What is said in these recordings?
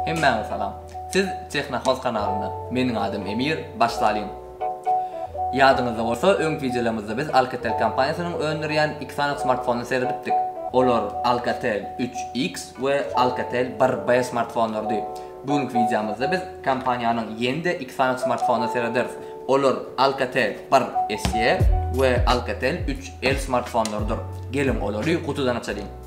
Hemmäňize salam. Siz Technohouse kanalynda. Meniň adym Emir, başlalyň. Ýadyňyzda bolsa öňki wideolarymyzda biz Alcatel kompaniýasynyň öndürýän iki sany smartfonyna seredipdik. Olar Alcatel üç X we Alcatel bir B smartfonlarydy. Bu günki wideomyzda biz kompaniýanyň ýene-de iki sany smartfonyna serederis. Olar Alcatel bir SE we Alcatel üç L smartfonlarydyr. Geliň olary gutudan açalyň.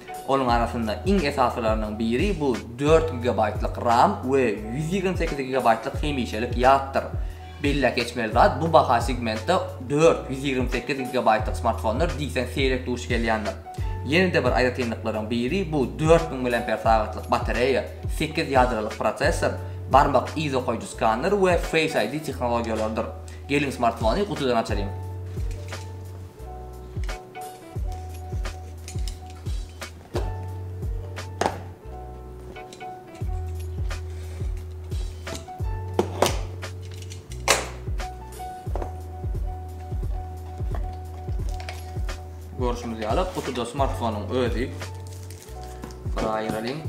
Onuň arasynda iň esasylarynyň biri bu dört gigabaýtlyk ram we ýüz ýigrimi sekiz gigabaýtlyk hemişelik ýatdyr. Belläp geçmeli zat, bu baha segmentde dört, ýüz ýigrimi sekiz gigabaýtlyk smartfonlar diýseň seýrek duş gelýändir. Ýene-de bir aýratynlyklaryň biri bu dört müň mAh ýylyk batareýa, sekiz ýadroly prosessor, barmak yz okaýjy skaner we Face ID tehnologiýalarydyr. Geliň smartfony gutudan açalyň. Görüşümüz ýaly, kutuda smartfonyň özi. Bura aýyralyň.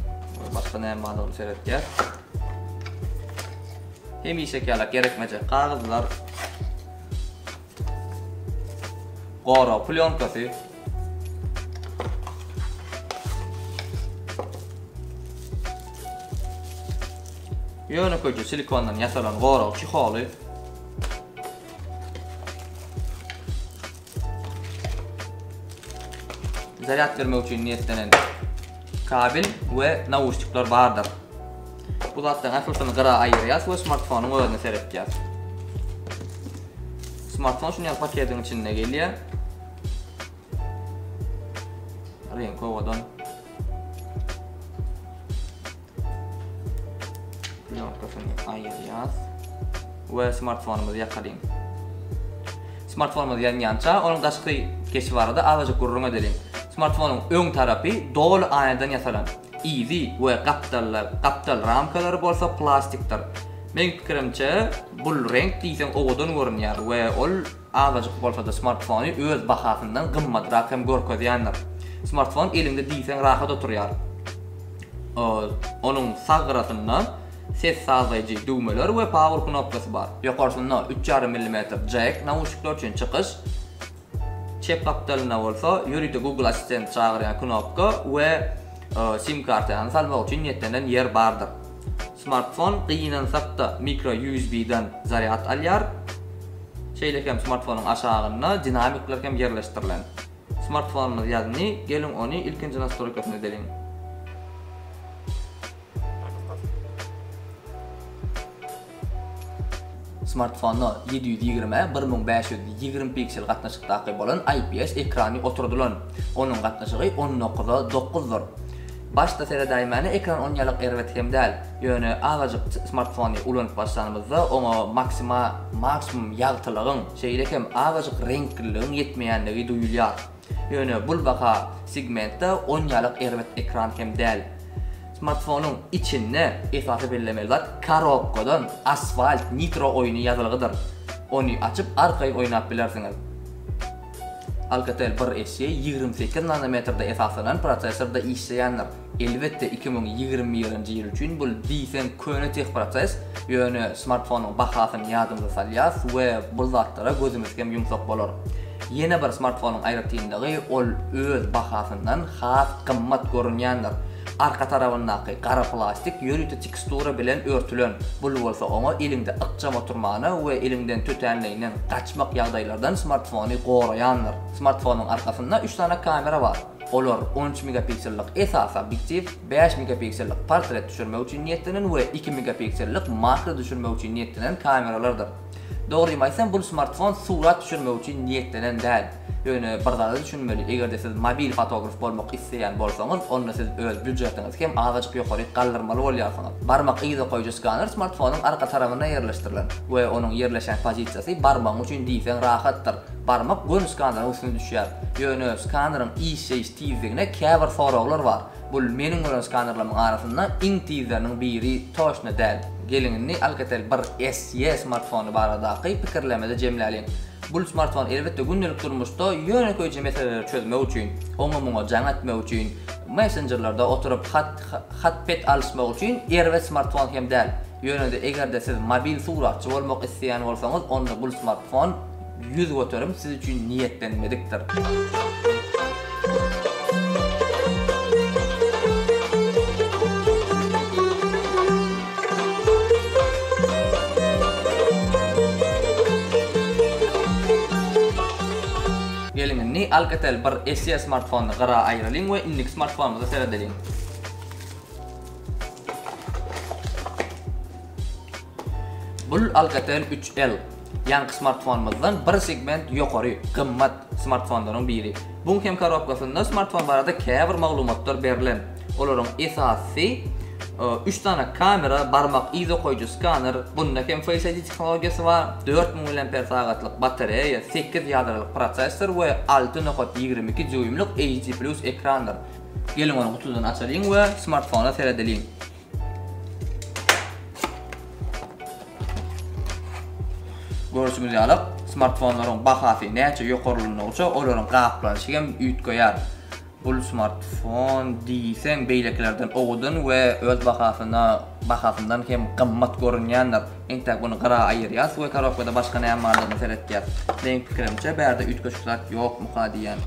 Başga näme bar onu seretýär. Hemişe ýaly gerekmejek kagyzlar. Gorag plýonkasy. Ýönekeje silikondan ýasalan gorag çiholy. Zarýad bermek üçin niýetlenen kabel we nauşnikler bardyr. Bu zatlaryň ählisini gyra aýyrýas we smartfonyň özüne seretýäs. Smartfon şuny ýaly paketiň içinde gelýär. Reňk owadan. Ýokdasyny aýyrýas we smartfonymyzy ýakalyň. Smartfonymyz ýanýança, onuň daşky keşi barada azajyk gürrüň edeliň. Smartfonyň öň tarapy doly aýnadan ýasalan. Yzy we gapdallar, gapdal ramkalary bolsa plastikdir. Meň pikirimçe, bul reňk diýseň owadan görünýär we ol azajyk bolsa-da smartfony öz bahasyndan gymmatrak hem görkezýändir. Smartfon eliňde diýseň rahat oturýar. Onuň sag gyrasynda ses sazlaýjy düwmeler we power knopkasy bar. Ýokarsynda üç ýarym millimetr jack nauşnikler üçin çykyş. Çep gapdalynda bolsa ýörite Google Assistent çagyrýan knopka we sim kartany salmak üçin niýetlenen ýer bardyr. Smartfon gynansak-da mikro USB-dan zarýad alýar. Şeýle hem smartfonyň aşagynda dinamikler hem ýerleşdirilen. Smartfonymyz ýazny, geliň ony ilkinji nastroýkasynda edeliň. Smartfona ýedi ýüz ýigrimi ä bir müň bäş ýüz ýigrimi piksel gatnaşykdaky bolan IPS ekrany oturdylan. Onuň gatnaşygy on dokuz a dokuzdyr. Başda seredäýmäne ekran onýalak erbet hem däl. Ýöne azajyk smartfony ulanyp başlanymyzda oňa maksima maksimum ýagtylygyň, şeýle hem azajyk reňkliligiň ýetmeýänligi duýulýar. Ýöne bul baha segmentde onýalyk erbet ekran hem däl. Smartfonyň içinde esasy bellemeli zat korobkadan Asphalt Nitro oýny ýazylgydyr. Ony açyp arkaýyn oýnap bilersiňiz. Alcatel bir SE ýigrimi sekiz nanometrde esaslanan prosesorda işleýändir. Elbetde iki müň ýigrimi birinji ýyl üçin bul diýseň köne teh proses, ýöne smartfonyň bahasyny ýadymyza salýas we bul zatlara gözümiz hem ýumsak bolar. Ýene bir smartfonyň aýratynlygy ol öz bahasyndan has gymmat görünýändir. Arka tarabyndaky gara plastik ýörite tekstura bilen örtülen, bul bolsa oňa eliňde ykjam oturmana we eliňden tötänleýinden gaçmak ýagdaýlardan smartfony goraýandyr. Smartfonyň arkasynda üç sany kamera bar. Olar on üç megapiksellik esasy obýektiw, bäş megapiksellik portret düşürmek üçin niýetlenen we iki megapiksellik makro düşürmek üçin niýetlenen kameralardyr. Dogrymy aýtsam, bul smartfon surat düşürmek üçin niýetlenen däl. Ýöne bir zada düşünmeli, eger-de siz mobil fotograf bolmak isleýän bolsaňyz, onda siz öz býujetiňizi hem azajyk ýokaryk galdyrmaly bolýarsyňyz. Barmak yza goýujy skaner smartfonyň arka tarabynda ýerleşdirilen we onuň ýerleşen pozisiýasy barmagyň üçin diýseň rahatdyr. Barmak göni skaneryň üstüne düşýär. Ýöne skaneryň işleýiş tizligine käbir soraglar bar. Bu meniň gören skanerleriň arasynda iň tizleriniň biri toçna däl. Geliň indi Alcatel bir SE smartfony baradaky pikirlerimizi jemläliň. Bul smartfon elbetde gündelik durmuşda ýönekeýje meseleleri çözmek üçin, oňa-muňa jaň etmek üçin, messenjerlerde oturyp hat bet alyşmak üçin erbet smartfon hem däl. Ýöne-de eger-de siz mobil suratçy bolmak isleýän bolsaňyz onda bul smartfon Ýüz göterim siz üçin niýetlenmedikdir. Geliň indi Alcatel bir SE smartfonyny gyra aýyralyň we indiki smartfonymyza seredeliň. Bul Alcatel 3L. Ýaňky smartfonymyzdan bir segment ýokary, gymmat smartfonlaryň biri. Buň hem korobkasynda smartfon barada käbir maglumatlar berlen. Olaryň esasysy, üç sany kamera, barmak yz okaýjy skaner, bunda hem Face ID tehnologiýasy bar, dört müň miliamper sagatlyk batareýa, sekiz ýadralyk prosessor we alty nokat ýigrimi iki dýuýmlyk HD Plus ekrandyr. Geliň ony gutudan açalyň we smartfona seredeliň. Görşüňiz ýaly, smartfonlaryň bahasy näçe ýokarlandygyça, olaryň gaplanyşy hem üýtgeýär. Bul smartfon diýseň beýlekilerden owadan we öz bahasyna bahasyndan hem gymmat görünýändir. Entäk buny gyra aýyrýas we korobkada başga näme bardygyna seretýäs. Meň pikirimçe bärde üýtgeşik zat ýokmuka diýýän.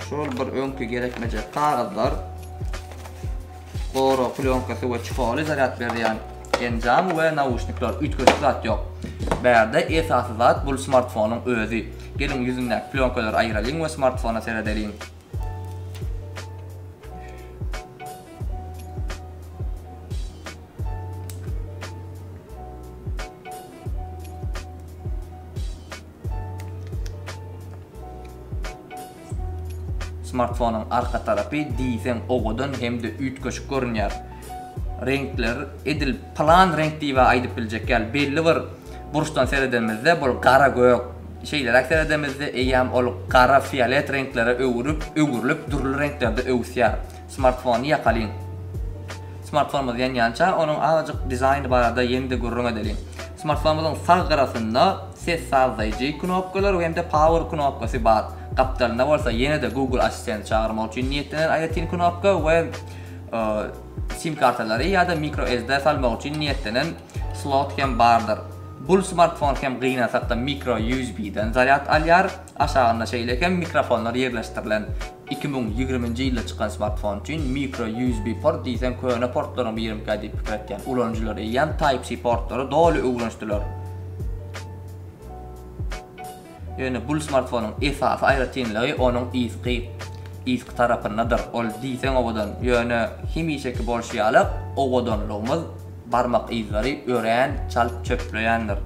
Şol bir öňki gerekmejek kagyzlar. Goro plyonkasy we çikoly zarýad berýän enjam we nauşnikler üýtgeşik zat ýok. Bärde esasy zat bul smartfonyň özi. Geliň ýüzündäki plyonkalary aýyralyň we smartfona seredeliň. Smartfonyň arka tarapy diýseň owadan hem-de üýtgeşik görünýär. Reňkler edil plan reňk diýibä aýdyp biljek ýaly, belli bir burçdan seredemizde bul gara gök, şeýleräk seredemizde eýýäm ol gara fiolet reňklere öwrülip, öwrülip dürli reňklerde öwüsýär. Smartfony ýakalyň. Smartfonymyz ýanýança, onuň azajyk dizaýny barada ýene-de gürrüň edeliň. Smartfonymyzyň sag gyrasynda ses sazlaýjy knopkalary hem-de Power knopkasy bar. Gapdalynda bolsa ýene-de Google Assistenty çagyrmak üçin niýetlenen aýratyn knopka we sim kartalary ýa-da microSD salmak üçin niýetlenen slot hem bardyr. Bul smartfon hem gynansakda microUSB-den zarýad alýar. Aşagynda şeýle hem mikrofonlar ýerleşdirilen. Iki müň ýigriminji ýylda çykan smartfon üçin mikro USB port diýseň köne portlaryň birimikä diýip pikir etýän ulanyjylar eýýäm Type-C portlary doly öwrenişdiler. Ýöne bul smartfonyň esasy aýratynlygy onuň yzky yzky tarapyndadyr. Ol diýseň owadan, ýöne hemişeki bolşy ýaly owadanlygymyz Barmak yzlary örän çalt çöpleýändir.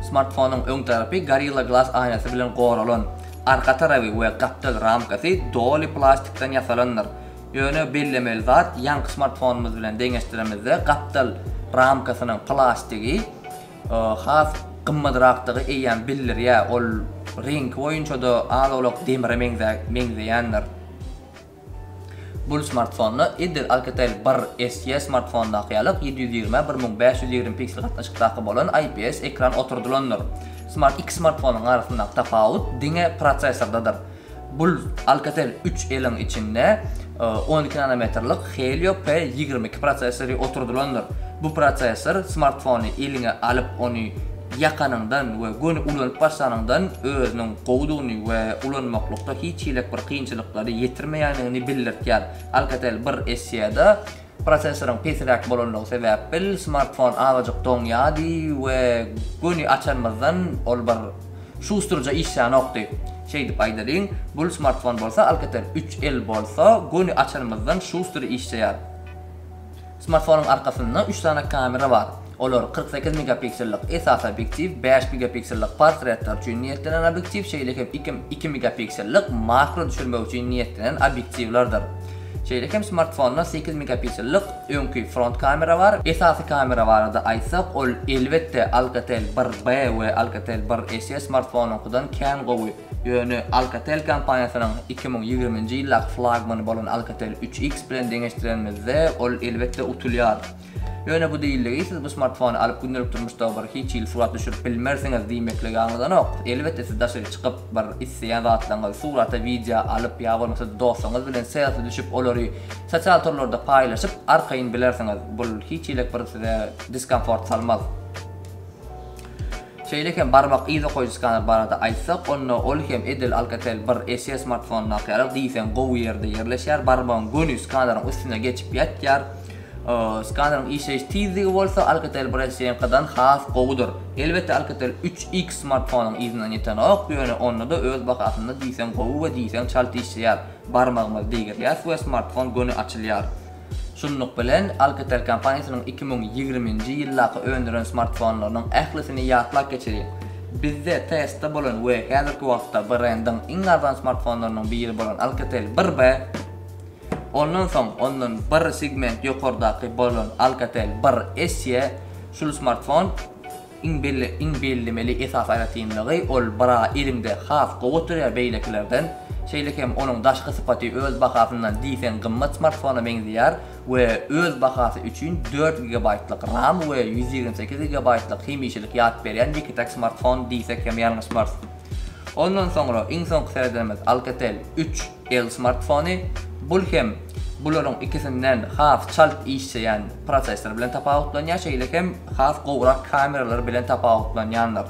Smartfonyň öň tarapy Gorilla Glass aýnasy bilen goralan. Arka tarapy we gapdal ramkasy doly plastikden ýasalandyr. Ýöne bellemeli zat, ýaňky smartfonymyz bilen deňeşdiremizde gapdal ramkasynyň plastigi has gymmadrakdygy eýýäm bildirýär, ol reňki boýunça-da az-owlak demire meňzeýändir. Bul smartfonda edil Alcatel bir SE smartfondaky ýalak ýedi ýüz ýigrimi bir müň bäş ýüz ýigrimi piksel gatnaşykdaky bolan IPS ekran oturdylandyr. Smart iki smartfonyň arasyndaky tapawut diňe prosessordadyr. Bul Alcatel üç L-iň içinde on iki nanometrlik Helio P ýigrimi iki prosesory oturdylandyr. Bu prosessor smartfony eliňe alyp ony ýakanyňdan we göni ulanyp başlanyňdan özüniň gowudygyny we ulanmaklykda hiç hili bir kynçylyklary ýetirmeýändigini bildirtýär. Alcatel bir essiýada, Prosessoryň pesiräk bolanlygy sebäpbil smartfon azajyk doňýardy we göni açanymyzdan ol bir şusturja işlänokdy. Şeýdip aýdalyň, bul smartfon bolsa Alcatel üç L bolsa göni açanymyzdan şuster işleýär. Smartfonyň arkasynda üç sany kamera bar. Olar, kyrk sekiz megapiksellik esasy obýektiw, bäş megapiksellik portretler üçin niýetlenen obýektiw, şeýle hem iki megapiksellik makro düşürmek üçin niýetlenen obýektiwlerdir. Şeýle hem smartfonda sekiz megapiksellik öňki front kamera bar. Esasy kamera barada aýtsak, ol, elbetde, Alcatel bir B we Alcatel bir SE smartfonyňkydan kän gowy. Ýöne Alcatel kompaniýasynyň iki müň ýigriminji ýyldaky flagmany bolan Alcatel üç X bilen deňeşdirenimizde, ol elbetde utulýar. Ýöne bu diýildigi siz bu smartfony alyp gündelik durmuşda bir hiç hili surat düşürip bilmersiňiz diýmeklige aňladanok. Elbetde siz daşary çykyp bir isleýän zatlaryňyzy surata wideo alyp ýa bolmasa dostuňyz bilen selfi düşüp olary sosial torlarda paýlaşyp arkaýyn bilersiňiz. Bul hiç hilik bir size diskomfort salmaz. Şeýle hem barmak yz okaýjy skaner barada aýtsak, onda ol hem edil Alcatel bir SE smartfonyndaky ýaly diýseň gowy ýerde ýerleşýär, barmagyň göni skaneriň üstüne geçip ýatýar. Skaneriň işleýiş tizligi bolsa Alcatel bir SE-niňkidan has gowudyr. Elbetde Alcatel üç X smartfonyň yzyndan ýetenok, ýöne onda-da öz bahasynda diýseň gowy we diýseň çalt işleýär, barmagymyzy degirýäris we smartfon göni açylýar. Şunluk bilen, Alcatel kompaniýasynyň iki müň ýigriminji ýyldaky öndüren smartfonlarynyň ählisini ýatlap geçeliň. Bizde testde bolan we häzirki wagtda brendiň iň arzan smartfonlarynyň biri bolan Alcatel bir B, ondan soň ondan bir segment ýokardaky bolan Alcatel bir SE, şul smartfon Iň bellemeli esasy aýratynlygy, ol bra eliňde has gowy oturýar beýlekilerden. Şeýle hem onuň daşky sypaty öz bahasyndan diýseň gymmat smartfona meňzeýär we öz bahasy üçin dört gigabaýtlyk ram we ýüz ýigrimi sekiz gigabaýtlyk hemişelik ýat berýän ýeke-täk smartfon diýsek hem ýalňyşmarys. Ondan soňra iň soňky seredenimiz Alcatel üç. El smartfony, bul hem bularyň ikisinden has çalt işjeýän prosessor bilen tapawutlanýar, şeýle hem has gowrak kameralar bilen tapawutlanýandyr.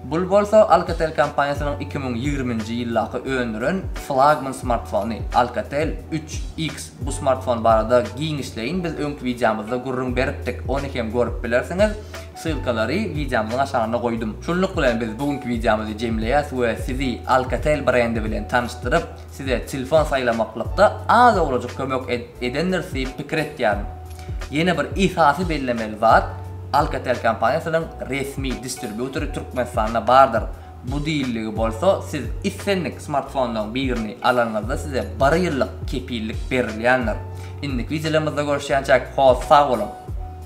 Bul bolsa Alcatel kompaniýasynyň iki müň ýigriminji ýyldaky öndüren flagman smartfony, Alcatel üç X. Bu smartfon barada giňişleýin biz öňki wideomyzda gürrüň beripdik, ony hem görüp bilersiňiz. Ssylkalary wideomyzyň aşagynda goýdum. Şunluk bilen biz bu günki wideomyzy jemleýäs we sizi Alcatel brendi bilen tanyşdyryp, size telefon saýlamaklykda az owlajyk kömek edendiris diýip pikir etýärin. Ýene bir esasy bellemeli zat, Alcatel kompaniýasynyň resmi distribýutory Türkmenistanda bardyr. Bu diýildigi bolsa, siz islendik smartfonlaryň birini alanyňyzda size bir ýyllyk kepillik berilýändir. Indiki wideolarymyzda görüşýänçäk, hol sag boluň!